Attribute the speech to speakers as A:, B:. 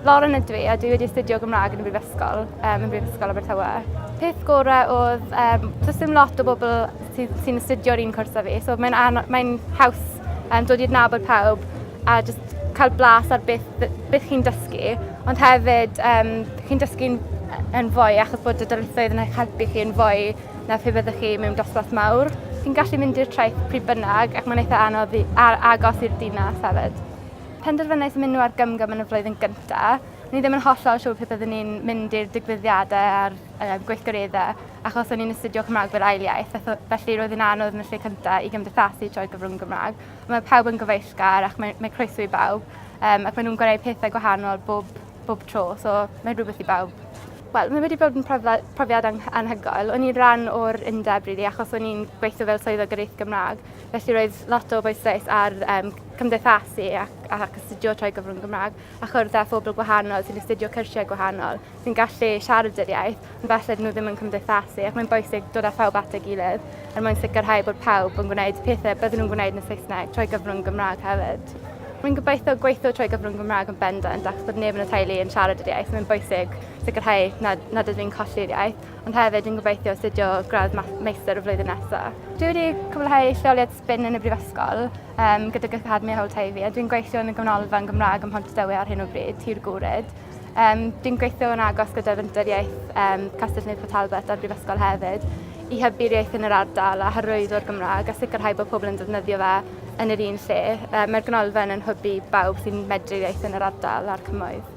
A: Lauren ydw i a dwi wedi astudio Gymraeg yn y Brifysgol, um, yn Brifysgol Abertawe. Peth gorau oedd, um, does dim lot o bobl sy'n sy astudio'r un cwrs â fi, so mae'n mae haws um, dod i'r nabod pawb a just cael blas ar beth, beth chi'n dysgu, ond hefyd um, chi'n dysgu'n yn fwy achos bod y dyletswydd yn eich helpu chi yn fwy na phe byddwch chi mewn dosbarth mawr. Chi'n gallu mynd i'r traeth pryd bynnag ac mae'n eitha anodd i, ar, agos i'r dinas hefyd. Penderfynais mynd nhw ar gymgym yn y flwyddyn gyntaf. Ni ddim yn hollol siŵr pe byddwn ni'n mynd i'r digwyddiadau a'r uh, gweithgareddau achos o'n i'n astudio Cymraeg fel ail iaith, felly roedd yn anodd yn y lle cyntaf i gymdeithasu trwy gyfrwng Gymraeg. Mae pawb yn gyfeillgar ac mae, mae croeso i bawb um, ac maen nhw'n gwneud pethau gwahanol bob bob tro, so mae'n rhywbeth i bawb. Wel, mae wedi bod yn profiad anhygoel. O'n i'n rhan o'r undeb, really, achos o'n i'n gweithio fel swyddog yr eith Gymraeg. Felly roedd lot o bwysais ar um, cymdeithasu ac, ac astudio trwy gyfrwng Gymraeg a chwrdd â phobl gwahanol sy'n astudio cyrsiau gwahanol, sy'n gallu siarad yr iaith Falle dyn nhw ddim yn cymdeithasu ac mae'n bwysig dod â phawb at ei gilydd er mwyn sicrhau bod pawb yn gwneud pethau byddwn nhw'n gwneud yn y Saesneg trwy gyfrwng Gymraeg hefyd. Rwy'n gobeithio gweithio trwy gyfrwng Gymraeg yn bendant ac bod neb yn y teulu yn siarad yr iaith, mae'n bwysig sicrhau nad, nad ydw i'n colli'r iaith, ond hefyd yn gobeithio astudio gradd meistr y flwyddyn nesaf. Dwi wedi cwblhau lleoliad sbin yn y Brifysgol um, gydag Academi Howlteifi a dwi'n gweithio yn y Gymnolfa yn Gymraeg ym Mhontydewi ar hyn o bryd, Tir Gwryd. Um, dwi'n gweithio yn agos gyda Fenter Iaith um, Castell Nid Port Talbot a'r Brifysgol hefyd i hybu'r iaith yn yr ardal a hyrwyddo'r Gymraeg a sicrhau bod pobl yn defnyddio fe yn yr un lle. Um, Mae'r ganolfan yn hybu bawb sy'n medru iaith yn yr ardal a'r cymoedd.